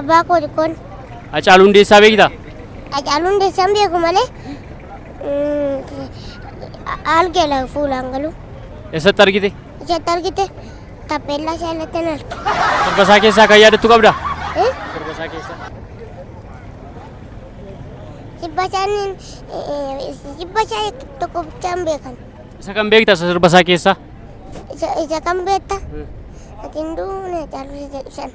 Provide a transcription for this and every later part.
Abbaa koo xiqqoon. Hacaaluu Hundeessaa beektaa? Hacaaluu Hundeessaan beeku malee algeela fuulaan galu. Eessatti argite? Ijatti argite tappeellaa isaa irratti hin arge. Sirba isaa keessaa kan yaadattu qabda? Eh? Sirba isaa keessaa. Sirba isaaniin sirba isaa tokko bichaan beekan. Isa kan beekta isa sirba isaa keessaa? Isa isa kan beekta? Ati hin duune caaluu isa jedhu sana.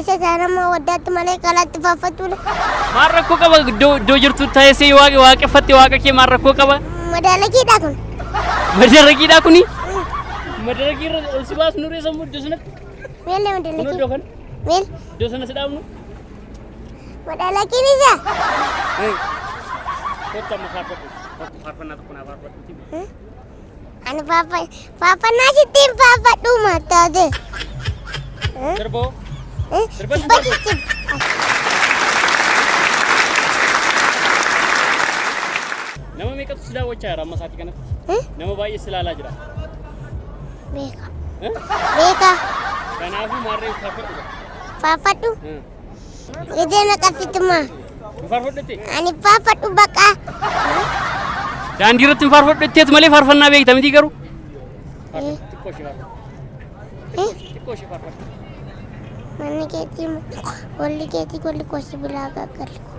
Isa saanammoo waddaatti malee kalaatti faaffachuudha. Maal rakkoo qaba iddoo iddoo jirtu taasisee yoo waaqa waaqeffatte waaqa kee maal rakkoo qaba? Madaalakiidha kun. Madaragiidhaa kuni? Madaragii irra ol si baasnu reessa immoo iddoo sanatti. Meel nama Kun iddoo dalakii. kana Meel iddoo sana si dhaabnu. madaalakiin isa. Kottu amma faarfadhu. Faarfannaa tokko naa faarfadhu. Ani faarfa- faarfannaa sittiin faarfadhuu mattaate. Sirboo. Sirba Sirba sitti sittiin. Nama meeqatu si daawwachaa jira amma isaatii kanatti? Hmm? Nama baay'ee si ilaalaa jira. Beeka. Eh? Beeka. Kanaafuu maarree faarfadhu. Faarfadhu. Hmm. Idee na qabsituma. Hin faarfadhu jettee? Ani faafadhu baqaa. Daandii irratti hin faarfadhu jetteet malee faarfannaa beekta mitii garuu. Xiqqoo ishee faarfadhu. Eh, Xiqqoo ishee faarfadhu. Manni keetii golli keetii golli koo sibilaa gaaggalli koo.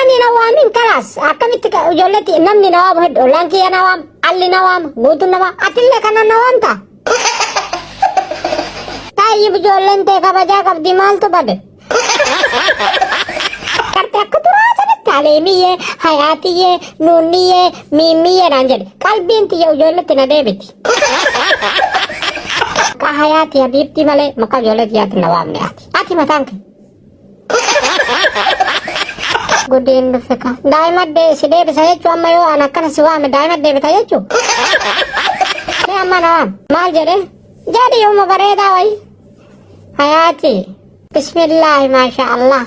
Ani na waamin kalaas akkamitti ka- ijoolletti namni na waamu heddu ollaan kiyya na waama alli na waama guutuun na waama atillee kana na waamta. Taayyib ijoolleen tee kabajaa qabdi maaltu bade. Qarti akka turaa sanatti aleemiyyee hayaatiyyee nuunniyyee miimmiyyee naan jedhe qalbiin tiyya ijoolletti na deebiti. Ka hayaati habiibtii malee maqaa ijoolletti yaatti na waamne ati. Ati mataan kee. Gudiin dhufe ka. Daa'ima dee si deebisa jechuu amma yoo an akkana si waame daa'ima deebita jechuu. Mee amma na waam. Maal jedhe? Jedhi yooma bareedaa wayi. Hayaati. Bismillaahi maashaa Allah.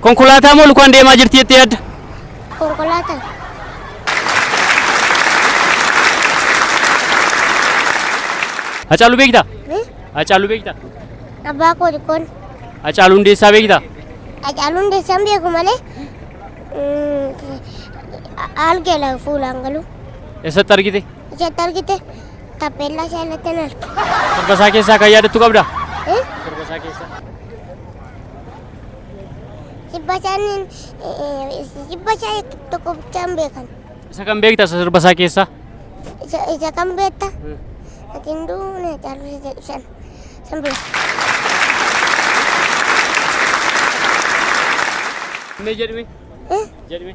Konkolaataa moo lukaan deemaa jirti jettee yaadda? Konkolaataa. Hacaaluu beektaa? Hmm? Hacaaluu beektaa? Abbaa koo xiqqoon. Hacaaluu Hundeessaa beektaa? Hacaaluu Hundeessaa hin beeku malee mm, algeela fuulaan galu. Eessatti argite? Ijatti argite tappeellaa isaa irratti hin arge. Sirba isaa keessaa kan yaadattu qabdaa? Hmm? Sirba isaa keessaa. Sirba isaaniin sirba isaa tokko bichaan beekan. Isa kan beekta isa sirba isaa keessaa? Isa isa kan beekta. Ati hin duune caaluu isa jedhu sana. San beeka. Mee jedhime. Eh? Jedhime.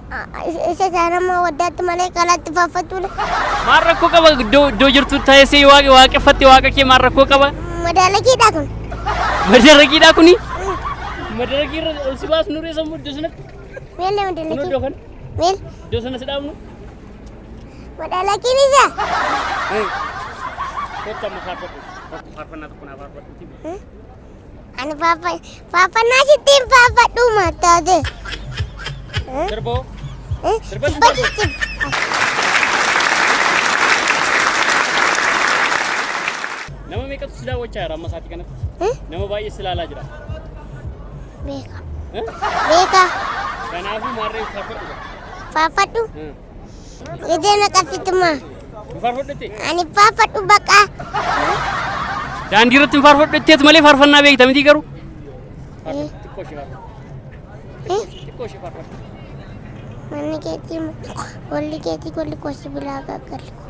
Isa saanammoo waddaatti malee qalaatti faaffattuudha. Maal rakkoo qaba iddoo iddoo jirtu taa'ee waaqa waaqeffatte waaqa kee maal rakkoo qaba? Madaalagiidhaa kun. Madaragiidhaa kuni? Madaragii irra ol si baas nuree sammuu iddoo sanatti Meel nama kun iddoo dalagii. kana Meel iddoo sana si dhaabnu madaalagiin isaa. kottu amma faarfadhu. Faarfannaa tokko naa faarfadhu. Ani faaffa faaffanaa sittiin faafadhuu mattaate. Sirboo. Sirba Sirba sirba. jijjib. Nama meeqatu si daawwachaa jira amma isaatii kanatti? Nama baay'ee si ilaalaa jira. Beeka. Eh? Beeka. Kanaafuu maarree faarfadhu. Faafadhu. Eh. Idee na qabsituma. Hin faarfadhutti. Ani faafadhu baqaa. Daandii irratti hin faarfadhu jetteet malee faarfannaa beekta mitii garuu. Xiqqoo ishee faarfadhu. Eh, Xiqqoo ishee faarfadhu. Manni keetii golli keetii golli koo sibilaa gaaggalli koo.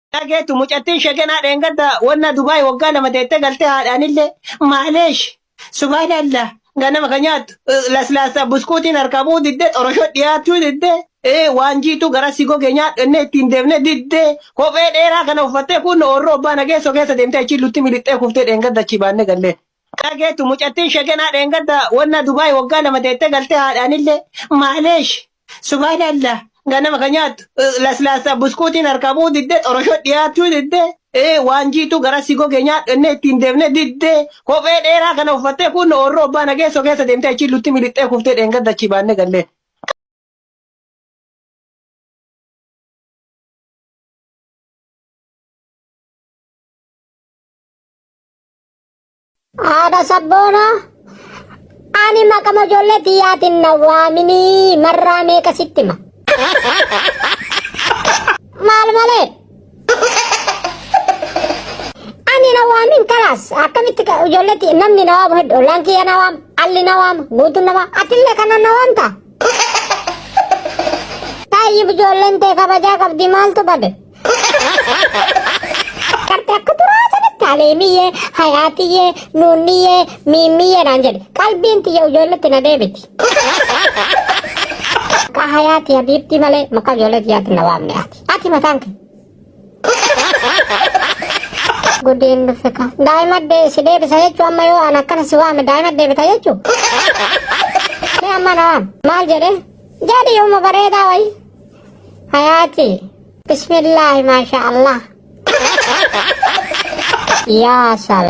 dhageetu mucattiin shegenaa dheengadda wanna Dubaay waggaa lama teettee galtee haadhaanillee maaleesh subhaanallah ganama ka nyaattu eh, laslaasa buskuutiin harkaa bu'uu diddee xoroshoo dhiyaachuu diddee eh, waan jiituu gara si gogee nyaadhu ennee ittiin deemne diddee kophee dheeraa kana uffattee kun oorroo abbaa nageessoo keessa deemtee achiin lutti milixxee kuftee dheengadda achii baannee gallee Kaa geettu mucattiin shegenaa dheengadda wannaa Dubai waggaa lama teettee galtee haadhaanillee maaleesh subaanallah ganama ka nyaattu eh, laslaassaa buskuutiin harkaa bu'uu diddee xoroshoo dhiyaachuu diddee eh, waan jiituu garaa si gogee nyaadhu ennee ittiin deemne diddee kophee dheeraa kana uffattee kun oorroo abbaa nageessoo keessa deemtee achiin lutti milixxee kuftee dheengadda achii baannee galleen. Haadha sabboonaa ani maqama ijoollee tiyyaatiin na waaminii marraa meeqa sitti hima. Maal malee? Ani na waamin kalaas akkamitti ka- ijoollee tiyya namni na waamu hedduu ollaan kiyya na waamu alli na waamu guutuun na waamu atillee kana na waamta. Taayyi ijoolleen tee kabajaa qabdi maaltu bade? Kartaa kuduraa sanatti aleemiyyee, hayaatiyyee, nuunniyyee, miimmiyyee naan jedhe. Qalbiin tiyya ijoolletti na deebiti. Maqaa hayaati habiibtii malee maqaa ijoollee tiyyaatti na waamne ati. Ati mataan kee. Gudiin dhufe ka. Daa'ima dee si deebisa jechuu amma yoo an akkana si waame daa'ima deebita jechuu. Mee amma na waam. Maal jedhee? Jedhi yooma bareedaa wayii. Hayaati. Bismillaahi maasha Allah. Yaa sal.